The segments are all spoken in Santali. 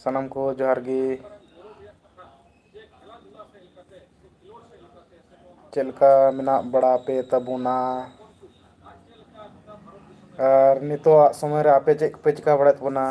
ᱥᱟᱱᱟᱢ ᱠᱚ ᱡᱚᱦᱟᱨ ᱜᱮ ᱪᱮᱫ ᱞᱮᱠᱟ ᱢᱮᱱᱟᱜ ᱵᱟᱲᱟ ᱯᱮ ᱛᱟᱵᱚᱱᱟ ᱟᱨ ᱱᱤᱛᱚᱜ ᱟᱜ ᱥᱚᱢᱚᱭ ᱨᱮ ᱟᱯᱮ ᱪᱮᱫ ᱠᱚᱯᱮ ᱪᱤᱠᱟᱹ ᱵᱟᱲᱟᱭᱮᱫ ᱛᱟᱵᱚᱱᱟ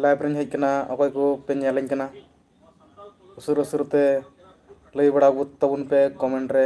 ᱞᱟᱭᱤᱵᱷ ᱨᱮᱧ ᱦᱮᱡ ᱟᱠᱟᱱᱟ ᱚᱠᱚᱭ ᱠᱚᱯᱮ ᱧᱮᱞᱟᱹᱧ ᱠᱟᱱᱟ ᱩᱥᱟᱹᱨᱟ ᱩᱥᱟᱹᱨᱟ ᱛᱮ ᱞᱟᱹᱭ ᱵᱟᱲᱟ ᱜᱚᱫ ᱛᱟᱵᱚᱱ ᱯᱮ ᱠᱚᱢᱮᱱᱴ ᱨᱮ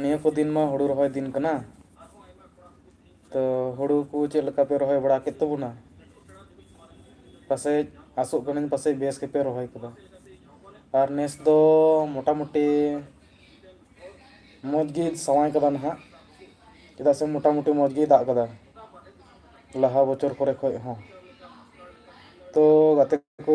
ᱱᱤᱭᱟᱹ ᱠᱚ ᱫᱤᱱ ᱢᱟ ᱦᱩᱲᱩ ᱨᱚᱦᱚᱭ ᱫᱤᱱ ᱠᱟᱱᱟ ᱛᱚ ᱦᱩᱲᱩ ᱠᱚ ᱪᱮᱫ ᱞᱮᱠᱟ ᱯᱮ ᱨᱚᱦᱚᱭ ᱵᱟᱲᱟ ᱠᱮᱫ ᱛᱟᱵᱚᱱᱟ ᱯᱟᱥᱮᱡ ᱟᱥᱚᱜ ᱠᱟᱹᱱᱟᱹᱧ ᱯᱟᱥᱮᱡ ᱵᱮᱥ ᱜᱮᱯᱮ ᱨᱚᱦᱚᱭ ᱠᱟᱫᱟ ᱟᱨ ᱱᱮᱥ ᱫᱚ ᱢᱚᱴᱟᱢᱩᱴᱤ ᱢᱚᱡᱽ ᱜᱮ ᱥᱟᱶᱟᱭ ᱠᱟᱫᱟ ᱱᱟᱦᱟᱜ ᱪᱮᱫᱟᱜ ᱥᱮ ᱢᱚᱴᱟᱢᱩᱴᱤ ᱢᱚᱡᱽ ᱜᱮᱭ ᱫᱟᱜ ᱠᱟᱫᱟ ᱞᱟᱦᱟ ᱵᱚᱪᱷᱚᱨ ᱠᱚᱨᱮ ᱠᱷᱚᱡ ᱦᱚᱸ ᱛᱚ ᱜᱟᱛᱮ ᱠᱚ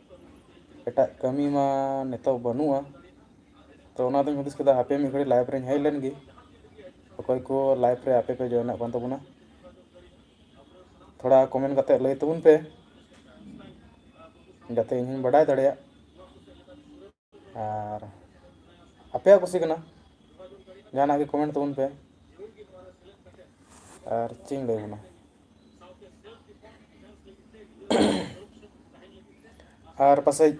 ᱮᱴᱟᱜ ᱠᱟᱹᱢᱤ ᱢᱟ ᱱᱤᱛᱚᱜ ᱵᱟᱹᱱᱩᱜᱼᱟ ᱛᱚ ᱚᱱᱟᱛᱮᱧ ᱦᱩᱫᱤᱥ ᱠᱮᱫᱟ ᱦᱟᱯᱮ ᱢᱤᱫ ᱜᱷᱟᱹᱲᱤᱡ ᱞᱟᱭᱤᱵᱷ ᱨᱮᱧ ᱦᱮᱡ ᱞᱮᱱ ᱜᱮ ᱚᱠᱚᱭ ᱠᱚ ᱞᱟᱭᱤᱵᱷ ᱨᱮ ᱟᱯᱮ ᱯᱮ ᱡᱚᱭᱮᱱᱚᱜ ᱠᱟᱱ ᱛᱟᱵᱚᱱᱟ ᱛᱷᱚᱲᱟ ᱠᱚᱢᱮᱱᱴ ᱠᱟᱛᱮ ᱞᱟᱹᱭ ᱛᱟᱵᱚᱱ ᱯᱮ ᱡᱟᱛᱮ ᱤᱧ ᱦᱚᱸᱧ ᱵᱟᱰᱟᱭ ᱫᱟᱲᱮᱭᱟᱜ ᱟᱨ ᱟᱯᱮᱭᱟᱜ ᱠᱩᱥᱤ ᱠᱟᱱᱟ ᱡᱟᱦᱟᱱᱟᱜ ᱜᱮ ᱠᱚᱢᱮᱱᱴ ᱛᱟᱵᱚᱱ ᱯᱮ ᱟᱨ ᱪᱮᱫ ᱤᱧ ᱞᱟᱹᱭ ᱟᱵᱚᱱᱟ ᱟᱨ ᱯᱟᱥᱮᱡ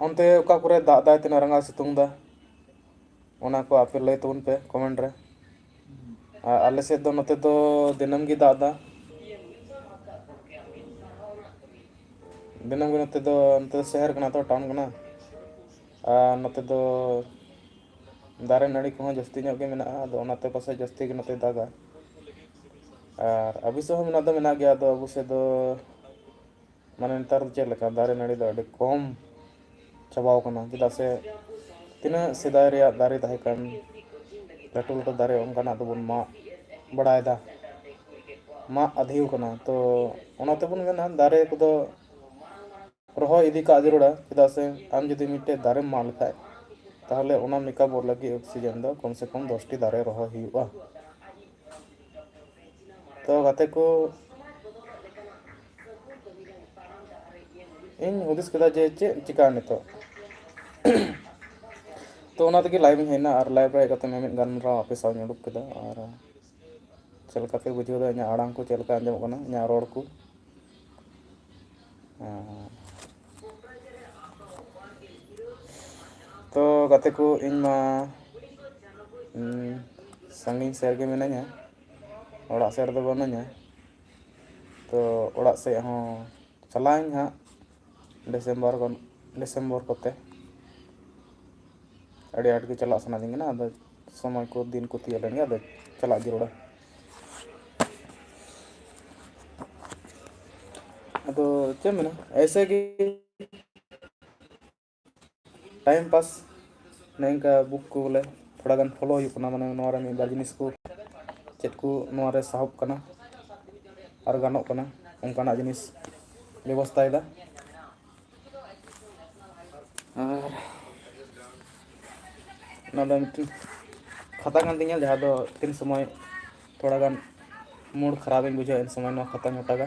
ᱚᱱᱛᱮ ᱚᱠᱟ ᱠᱚᱨᱮ ᱫᱟᱜ ᱫᱟᱭ ᱛᱤᱱᱟᱹᱜ ᱨᱟᱸᱜᱟᱣ ᱥᱤᱛᱩᱝ ᱫᱟ ᱚᱱᱟ ᱠᱚ ᱟᱯᱮ ᱞᱟᱹᱭ ᱛᱟᱵᱚᱱ ᱯᱮ ᱠᱚᱢᱮᱱᱴ ᱨᱮ ᱟᱨ ᱟᱞᱮ ᱥᱮᱫ ᱫᱚ ᱱᱚᱛᱮ ᱫᱚ ᱫᱤᱱᱟᱹᱢ ᱜᱮ ᱫᱟᱜ ᱮᱫᱟ ᱫᱤᱱᱟᱹᱢ ᱜᱮ ᱱᱚᱛᱮ ᱫᱚ ᱱᱚᱛᱮ ᱫᱚ ᱥᱚᱦᱚᱨ ᱠᱟᱱᱟ ᱛᱚ ᱴᱟᱣᱩᱱ ᱠᱟᱱᱟ ᱟᱨ ᱱᱚᱛᱮ ᱫᱚ ᱫᱟᱨᱮ ᱱᱟᱹᱲᱤ ᱠᱚᱦᱚᱸ ᱡᱟᱹᱥᱛᱤ ᱧᱚᱜ ᱜᱮ ᱢᱮᱱᱟᱜᱼᱟ ᱟᱫᱚ ᱚᱱᱟᱛᱮ ᱯᱟᱥᱮᱡ ᱡᱟᱹᱥᱛᱤ ᱜᱮ ᱱᱚᱛᱮ ᱫᱟᱜᱟ ᱟᱨ ᱟᱵᱚ ᱥᱮᱫ ᱦᱚᱸ ᱢᱮᱱᱟᱜ ᱫᱚ ᱢᱮᱱᱟᱜ ᱜᱮᱭᱟ ᱟᱫᱚ ᱟᱵᱚ ᱥᱮᱫ ᱫᱚ ᱢᱟᱱᱮ ᱱᱮᱛᱟᱨ ᱫᱚ ᱪᱮᱫ ᱞᱮᱠᱟ ᱫᱟᱨᱮ ᱱᱟᱹᱲᱤ ᱫᱚ ᱟᱹᱰᱤ ᱠᱚᱢ ᱪᱟᱵᱟᱣ ᱠᱟᱱᱟ ᱪᱮᱫᱟᱜ ᱥᱮ ᱛᱤᱱᱟᱹᱜ ᱥᱮᱫᱟᱭ ᱨᱮᱭᱟᱜ ᱫᱟᱨᱮ ᱛᱟᱦᱮᱸ ᱠᱟᱱ ᱞᱟᱹᱴᱩ ᱞᱟᱹᱴᱩ ᱫᱟᱨᱮ ᱚᱱᱠᱟᱱᱟᱜ ᱫᱚᱵᱚᱱ ᱢᱟᱜ ᱵᱟᱲᱟᱭᱮᱫᱟ ᱢᱟᱜ ᱟᱹᱫᱷᱤᱣ ᱠᱟᱱᱟ ᱛᱚ ᱚᱱᱟ ᱛᱮᱵᱚᱱ ᱢᱮᱱᱟ ᱫᱟᱨᱮ ᱠᱚᱫᱚ ᱨᱚᱦᱚᱭ ᱤᱫᱤ ᱠᱟᱜ ᱡᱟᱹᱨᱩᱲᱟ ᱪᱮᱫᱟᱜ ᱥᱮ ᱟᱢ ᱡᱩᱫᱤ ᱢᱤᱫᱴᱮᱡ ᱫᱟᱨᱮᱢ ᱢᱟᱜ ᱞᱮᱠᱷᱟᱡ ᱛᱟᱦᱚᱞᱮ ᱚᱱᱟ ᱢᱮᱠᱟᱯᱚᱜ ᱞᱟᱹᱜᱤᱫ ᱚᱠᱥᱤᱡᱮᱱ ᱫᱚ ᱠᱚᱢ ᱥᱮ ᱠᱚᱢ ᱫᱚᱥᱴᱤ ᱫᱟᱨᱮ ᱨᱚᱦᱚᱭ ᱦᱩᱭᱩᱜᱼᱟ ᱛᱚ ᱜᱟᱛᱮ ᱠᱚ ᱤᱧ ᱦᱩᱫᱤᱥ ᱠᱮᱫᱟ ᱡᱮ ᱪᱮᱫ ᱪᱤᱠᱟ ᱱᱤᱛᱚᱜ ᱛᱚ ᱚᱱᱟ ᱛᱮᱜᱮ ᱞᱟᱭᱤᱵᱷ ᱤᱧ ᱦᱮᱡᱱᱟ ᱟᱨ ᱞᱟᱭᱤᱵᱷ ᱨᱮ ᱦᱮᱡ ᱠᱟᱛᱮ ᱢᱤᱢᱤᱫ ᱜᱟᱞᱢᱟᱨᱟᱣ ᱟᱯᱮ ᱥᱟᱶ ᱤᱧ ᱩᱰᱩᱠ ᱠᱮᱫᱟ ᱟᱨ ᱪᱮᱫ ᱞᱮᱠᱟ ᱯᱮ ᱵᱩᱡᱷᱟᱹᱣ ᱮᱫᱟ ᱤᱧᱟᱹᱜ ᱟᱲᱟᱝ ᱠᱚ ᱪᱮᱫ ᱞᱮᱠᱟ ᱟᱸᱡᱚᱢᱚᱜ ᱠᱟᱱᱟ ᱤᱧᱟᱹᱜ ᱨᱚᱲ ᱠᱚ ᱛᱚ ᱜᱟᱛᱮ ᱠᱚ ᱤᱧ ᱢᱟ ᱥᱟᱺᱜᱤᱧ ᱥᱮᱫ ᱨᱮᱜᱮ ᱢᱤᱱᱟᱹᱧᱟ ᱚᱲᱟᱜ ᱥᱮᱫ ᱨᱮᱫᱚ ᱵᱟᱹᱱᱩᱧᱟ ᱛᱚ ᱚᱲᱟᱜ ᱥᱮᱫ ᱦᱚᱸ ᱪᱟᱞᱟᱜ ᱟᱹᱧ ᱦᱟᱸᱜ ᱰᱤᱥᱮᱢᱵᱚᱨ ᱜᱟᱱ ᱰᱤᱥᱮᱢᱵᱚᱨ ᱠᱚᱛᱮ ᱟᱹᱰᱤ ᱟᱸᱴ ᱜᱮ ᱪᱟᱞᱟᱜ ᱥᱟᱱᱟᱧ ᱠᱟᱱᱟ ᱟᱫᱚ ᱥᱚᱢᱚᱭ ᱠᱚ ᱫᱤᱱ ᱠᱚ ᱛᱤᱭᱳᱜ ᱞᱮᱱᱜᱮ ᱟᱫᱚ ᱪᱟᱞᱟᱜ ᱡᱟᱹᱨᱩᱲᱟ ᱟᱫᱚ ᱪᱮᱫ ᱮᱢ ᱢᱮᱱᱟ ᱮᱭᱥᱮ ᱜᱮ ᱴᱟᱭᱤᱢ ᱯᱟᱥ ᱱᱚᱝᱠᱟ ᱵᱩᱠ ᱠᱚᱞᱮ ᱛᱷᱚᱲᱟ ᱜᱟᱱ ᱯᱷᱚᱞᱳ ᱦᱩᱭᱩᱜ ᱠᱟᱱᱟ ᱢᱟᱱᱮ ᱱᱚᱣᱟ ᱨᱮ ᱢᱤᱫ ᱵᱟᱨ ᱡᱤᱱᱤᱥ ᱠᱚ ᱪᱮᱫ ᱠᱚ ᱱᱚᱣᱟ ᱨᱮ ᱥᱟᱦᱚᱵ ᱠᱟᱱᱟ ᱟᱨ ᱜᱟᱱᱚᱜ ᱠᱟᱱᱟ ᱚᱱᱠᱟᱱᱟᱜ ᱡᱤᱱᱤᱥ ᱵᱮᱵᱚᱥᱛᱟᱭᱮᱫᱟ ᱟᱨ ᱱᱚᱣᱟ ᱫᱚ ᱢᱤᱫᱴᱮᱱ ᱠᱷᱟᱛᱟ ᱠᱟᱱ ᱛᱤᱧᱟᱹ ᱡᱟᱦᱟᱸ ᱫᱚ ᱛᱤᱱ ᱥᱚᱢᱚᱭ ᱛᱷᱚᱲᱟ ᱜᱟᱱ ᱢᱩᱰ ᱠᱷᱟᱨᱟᱯ ᱤᱧ ᱵᱩᱡᱷᱟᱹᱣᱟ ᱩᱱ ᱥᱚᱢᱚᱭ ᱱᱚᱣᱟ ᱠᱷᱟᱛᱟᱧ ᱚᱴᱟᱜᱟ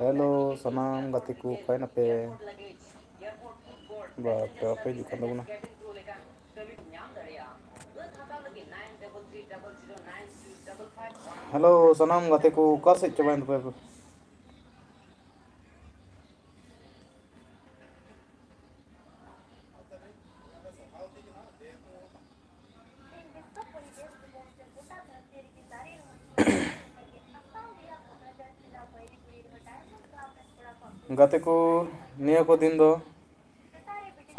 ᱦᱮᱞᱳ ᱥᱟᱱᱟᱢ ᱜᱟᱛᱮ ᱠᱚ ᱚᱠᱟᱭ ᱱᱟᱯᱮ ᱵᱟ ᱯᱮ ᱵᱟᱯᱮ ᱦᱤᱡᱩᱜ ᱠᱟᱱ ᱛᱟᱵᱚᱱᱟ ᱦᱮᱞᱳ ᱥᱟᱱᱟᱢ ᱜᱟᱛᱮ ᱠᱚ ᱚᱠᱟ ᱥᱮᱫ ᱪᱟᱵᱟᱭᱮᱱ ᱛᱟᱯᱮᱭᱟ ᱯᱮ ᱜᱟᱛᱮ ᱠᱚ ᱱᱤᱭᱟᱹ ᱠᱚ ᱫᱤᱱ ᱫᱚ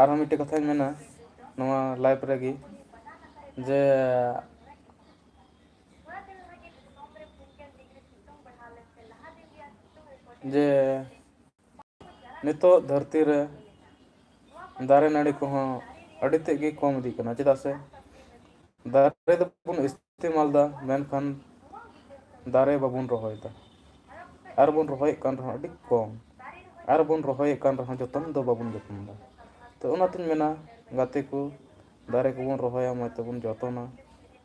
ᱟᱨᱦᱚᱸ ᱢᱤᱫᱴᱮᱱ ᱠᱟᱛᱷᱟᱧ ᱢᱮᱱᱟ ᱱᱚᱣᱟ ᱞᱟᱭᱤᱯᱷ ᱨᱮᱜᱮ ᱡᱮ ᱡᱮ ᱱᱤᱛᱚᱜ ᱫᱷᱟᱹᱨᱛᱤ ᱨᱮ ᱫᱟᱨᱮ ᱱᱟᱹᱲᱤ ᱠᱚᱦᱚᱸ ᱟᱹᱰᱤ ᱛᱮᱫ ᱜᱮ ᱠᱚᱢ ᱤᱫᱤᱜ ᱠᱟᱱᱟ ᱪᱮᱫᱟᱜ ᱥᱮ ᱫᱟᱨᱮ ᱫᱚᱵᱚᱱ ᱤᱥᱛᱮᱢᱟᱞ ᱮᱫᱟ ᱢᱮᱱᱠᱷᱟᱱ ᱫᱟᱨᱮ ᱵᱟᱵᱚᱱ ᱨᱚᱦᱚᱭᱮᱫᱟ ᱟᱨ ᱵᱚᱱ ᱨᱚᱦᱚᱭᱮᱫ ᱠᱟᱱ ᱨᱮᱦᱚᱸ ᱟᱹᱰᱤ ᱠᱚᱢ ᱟᱨ ᱵᱚᱱ ᱨᱚᱦᱚᱭᱮᱫ ᱠᱟᱱ ᱨᱮᱦᱚᱸ ᱡᱚᱛᱚᱱ ᱫᱚ ᱵᱟᱵᱚᱱ ᱡᱚᱛᱚᱱᱫᱟ ᱛᱚ ᱚᱱᱟᱛᱤᱧ ᱢᱮᱱᱟ ᱜᱟᱛᱮ ᱠᱚ ᱫᱟᱨᱮ ᱠᱚᱵᱚᱱ ᱨᱚᱦᱚᱭᱟ ᱢᱚᱡᱽ ᱛᱮᱵᱚᱱ ᱡᱚᱛᱚᱱᱟ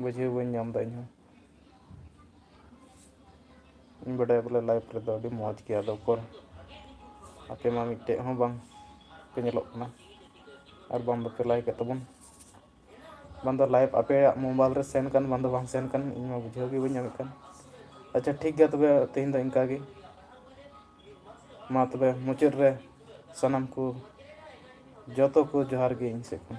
ᱵᱩᱡᱷᱟᱹᱣ ᱵᱟᱹᱧ ᱧᱟᱢ ᱮᱫᱟ ᱤᱧᱦᱚᱸ ᱤᱧ ᱵᱟᱰᱟᱭᱟ ᱵᱚᱞᱮ ᱞᱟᱭᱤᱯᱷ ᱨᱮᱫᱚ ᱟᱹᱰᱤ ᱢᱚᱡᱽ ᱜᱮᱭᱟ ᱟᱫᱚ ᱩᱠᱩᱨ ᱟᱯᱮ ᱢᱟ ᱢᱤᱫᱴᱮᱡ ᱦᱚᱸ ᱵᱟᱝ ᱯᱮ ᱧᱮᱞᱚᱜ ᱠᱟᱱᱟ ᱟᱨ ᱵᱟᱝ ᱵᱟᱯᱮ ᱞᱟᱭᱤᱠ ᱮᱫ ᱛᱟᱵᱚᱱ ᱵᱟᱝ ᱫᱚ ᱞᱟᱭᱤᱵᱷ ᱟᱯᱮᱭᱟᱜ ᱢᱳᱵᱟᱭᱤᱞ ᱨᱮ ᱥᱮᱱ ᱠᱟᱱ ᱵᱟᱝ ᱫᱚ ᱵᱟᱝ ᱥᱮᱱ ᱠᱟᱱ ᱤᱧ ᱢᱟ ᱵᱩᱡᱷᱟᱹᱣ ᱜᱮ ᱵᱟᱹᱧ ᱧᱟᱢᱮᱫ ᱠᱟᱱ ᱟᱪᱪᱷᱟ ᱴᱷᱤᱠ ᱜᱮᱭᱟ ᱛᱚᱵᱮ ᱛᱮᱦᱮᱧ ᱫᱚ ᱤᱱᱠᱟ ᱜᱮ ᱢᱟ ᱛᱚᱵᱮ ᱢᱩᱪᱟᱹᱫ ᱨᱮ ᱥᱟᱱᱟᱢ ᱠᱚ ᱡᱚᱛᱚ ᱠᱚ ᱡᱚᱦᱟᱨ ᱜᱮ ᱤᱧ ᱥᱮᱫ ᱠᱷᱚᱱ